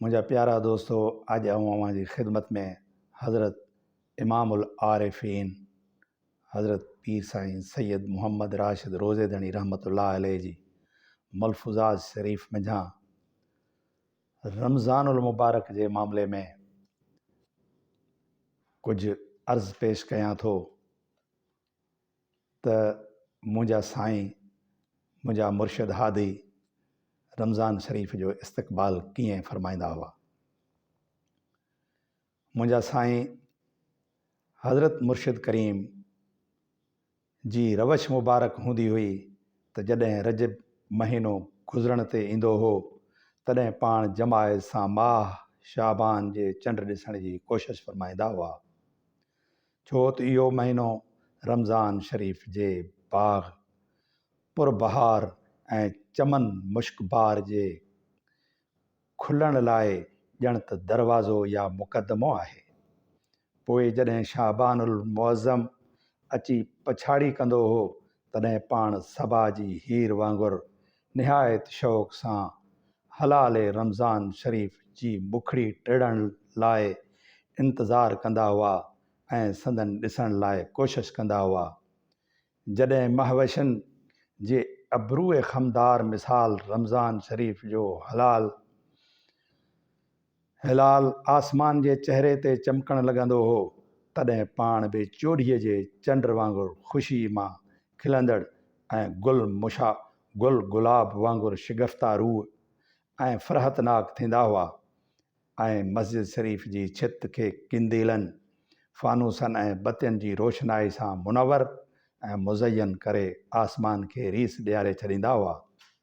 منهنجا پيارا دوستو اڄ آئون اوهان جي خدمت ۾ حضرت امام العارفين حضرت پير سائين سيد محمد راشد روضي ڌڻي رحمت الله عليه جي ملفوظات شريف منجهان رمضان المبارڪ جي معاملي ۾ ڪجهه عرض پيش ڪيان ٿو ته منهنجا سائين منهنجا مرشد هادي رمضان شريف جو استقبال ڪيئن فرمائيندا هئا منهنجا سائين حضرت مرشد ڪريم جي روش مبارڪ هوندي هئي ته جڏهن رجب مهينو گذرڻ تي ايندو هو تڏهن پاڻ جماعت سان ماهه شعبان جي چنڊ ڏسڻ جي ڪوشش فرمائيندا هئا ڇو ته اهو مهينو رمضان شريف جي باغ پر بهار ۽ چمن مشڪ بار جي کلڻ لاء ڄڻ ته دروازو يا مقدمو آهي. پوء جڏهن شعبان المعظم اچي پڇاڙي ڪندو هو تڏهن پاڻ صبا جي هير وانگر نهايت شوق سان هلال رمضان شريف جي بکڙي ٽڙڻ لاء انتظار ڪندا هئا ۽ سندن ڏسڻ لاء ڪوشش ڪندا هئا. جڏهن مهوشين جي ابروء خمدار مثال رمضان شريف جو هلال، هلال آسمان جي چهري تي چمڪڻ لڳندو هو، تڏهن پاڻ به چوڏهيء جي چنڊ وانگر خوشيء مان کلندڙ ۽ گل مشا گل گلاب وانگر شگفته روح ۽ فرحتناڪ ٿيندا هئا ۽ مسجد شريف جي ڇت کي قنديلن، فانوسن ۽ بتين جي روشنائي سان منور ۽ مزين ڪري آسمان کي ريس ڏياري ڇڏيندا هئا.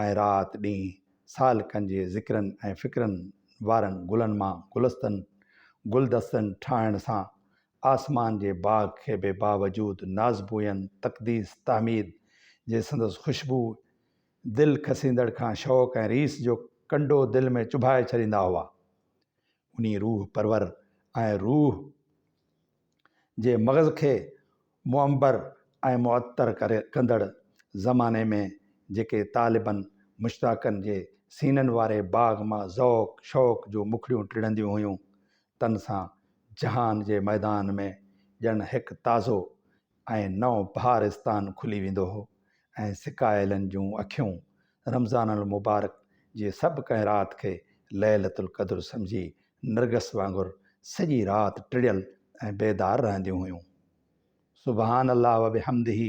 ۽ رات ڏينهن سالڪن جي ذڪرن ۽ فڪرن وارن گلن مان گلستن، گلدستن، ٺاهڻ سان آسمان جي باغ کي به باوجود نازبوين، تقديس، تحميد جي سندس خوشبوء، دل کسيندڙ کان شوق ۽ ريس جو ڪنڊو دل ۾ چڀائي ڇڏيندا هئا. انهي روح پرور ۽ روح. جي مغز کي معنبر ۽ معطر ڪندڙ زماني ۾ جيڪي طالبن مشتاقن جي سينن واري باغ مان ذوق شوق جون مکڙيون ٽڙنديون هيون تن سان جهان جي ميدان ۾ ڄڻ هڪ تازو ۽ نئون بهارستان کلي ويندو هو ۽ سڪايلن جون اکيون رمضان المبارڪ جي سڀ ڪنهن رات کي ليلة القدر سمجهي نرگس وانگر سڄي رات ٽڙيل ۽ بيدار رهنديون هيون. سبحان الله وبحمده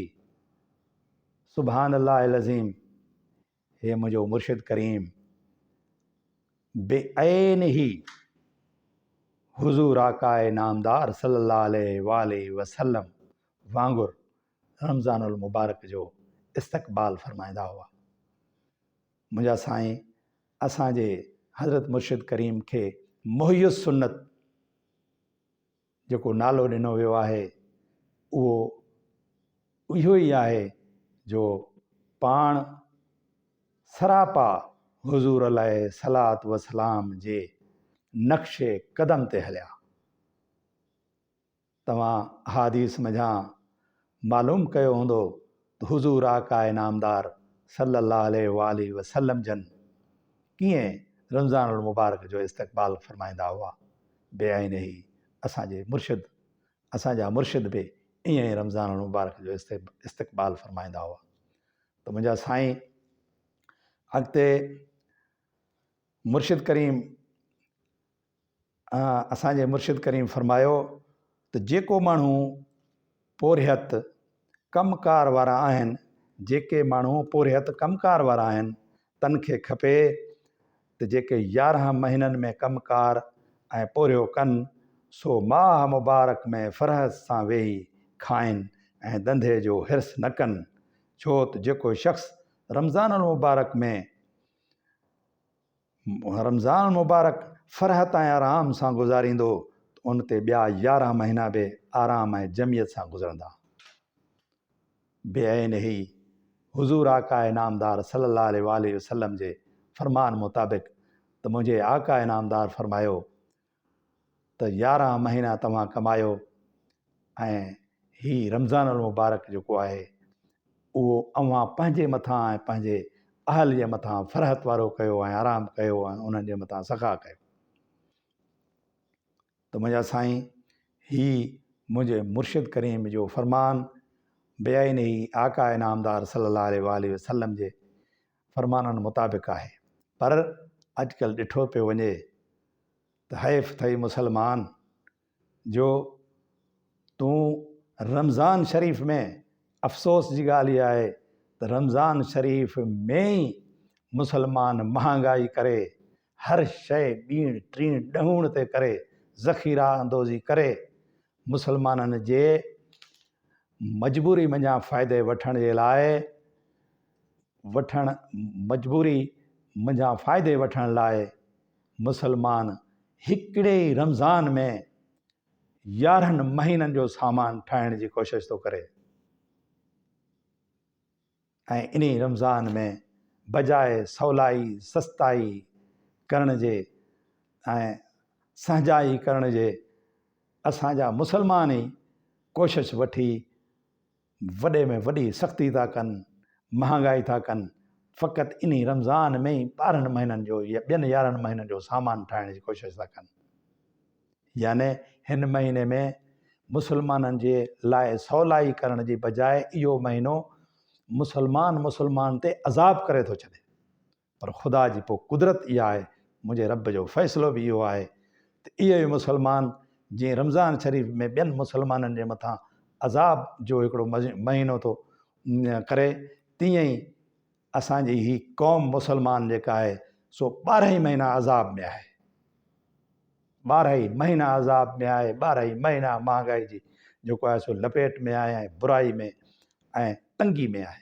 سبحان الله العظيم هي منهنجو مرشد ڪريم بعين هي حضور آقاء نامدار صلي الله عليه واٰله وسلم وانگر رمضان المبارڪ جو استقبال فرمائيندا هئا. منهنجا سائين اسان جي حضرت مرشد ڪريم کي محي السنت جيڪو نالو ڏنو ويو آهي اهو اهو ئي آهي جو پاڻ سراپا حضور عليه الصلات والسلام جي نقش قدم تي هليا. توهان احاديث منجهان معلوم ڪيو هوندو ته حضور آقاء نامدار صلّي اللّٰه عليه واٰله وسلّم جن ڪيئن رمضان المبارڪ جو استقبال فرمائيندا هئا، بعينه اسان جي مرشد، اسان جا مرشد به ائين ئي رمضان المبارڪ جو استقبال فرمائيندا هئا ته منهنجا سائين اڳتي مرشد ڪريم، اسان جي مرشد ڪريم فرمايو ته جيڪو ماڻهو پورهيت ڪم ڪار وارا آهن جيڪي ماڻهو پورهيت ڪم ڪار وارا آهن تن کي کپي ته جيڪي يارهن مهينن ۾ ڪم ڪار ۽ پورهيو ڪن سو ماه مبارڪ ۾ فرحت سان ويهي کائن ۽ ڌنڌي جو حرص نه ڪن ڇو ته جيڪو شخص رمضان المبارڪ ۾ رمضان مبارڪ فرحت ۽ آرام سان گذاريندو ته ان تي ٻيا يارهن مهينا به آرام ۽ جمعيت سان گذرندا. بعين هي حضور آقا نامدار صلي الله عليه واٰله وسلم جي فرمان مطابق ته منهنجي آقا نامدار فرمايو ته يارهن مهينا توهان ڪمايو ۽ هي رمضان المبارڪ جيڪو آهي اهو اوهان پنهنجي مٿان ۽ پنهنجي اهل جي مٿان فرحت وارو ڪيو ۽ آرام ڪيو ۽ انهن جي مٿان سخا ڪيو ته منهنجا سائين هي منهنجي مرشد ڪريم جو فرمان بيائي نهي آقا انعامدار صلي الله عليه وآله وسلم جي فرمانن مطابق آهي پر اڄڪلهه ڏٺو پيو وڃي ته حيف ٿئي مسلمان جو تون رمضان شريف ۾ افسوس جي ڳالهه اها آهي ته رمضان شريف ۾ ئي مسلمان مهانگائي ڪري هر شيء ٻيڻ ٽيڻ ڏهوڻ تي ڪري ذخيرا اندوزي ڪري مسلمانن جي مجبوري منجهان فائدي وٺڻ جي لاء وٺڻ مجبوري منجهان فائدي وٺڻ لاء مسلمان هڪڙي ئي رمضان ۾ يارهن مهينن جو سامان ٺاهڻ جي ڪوشش ٿو ڪري ۽ انهي رمضان ۾ بجاء سولائي سستائي ڪرڻ جي ۽ سهجائي ڪرڻ جي اسان جا مسلمان ئي ڪوشش وٺي وڏي ۾ وڏي سختي ٿا ڪن، مهانگائي ٿا ڪن، فقط انهي رمضان ۾ ئي ٻارهن مهينن جو يا ٻين يارهن مهينن جو سامان ٺاهڻ جي ڪوشش ٿا ڪن. يعني هن مهيني ۾ مسلمانن جي لاء سولائي ڪرڻ جي بجاء اهو مهينو مسلمان مسلمان تي عذاب ڪري ٿو ڇڏي. پر خدا جي پوء قدرت اها آهي، منهنجي رب جو فيصلو به اهو آهي ته اهي ئي مسلمان جنهن رمضان شريف ۾ ٻين مسلمانن جي مٿان عذاب جو هڪڙو مهينو ٿو ڪري تيئن ئي اسان جي هي قوم مسلمان جيڪا آهي سو ٻارهن مهينا عذاب ۾ آهي ٻارهن مهينا عذاب ۾ آهي ٻارهن مهينا مهانگائي جي جيڪو آهي سو لپيٽ ۾ آهي ۽ برائي ۾ ۽ تنگي ۾ آهي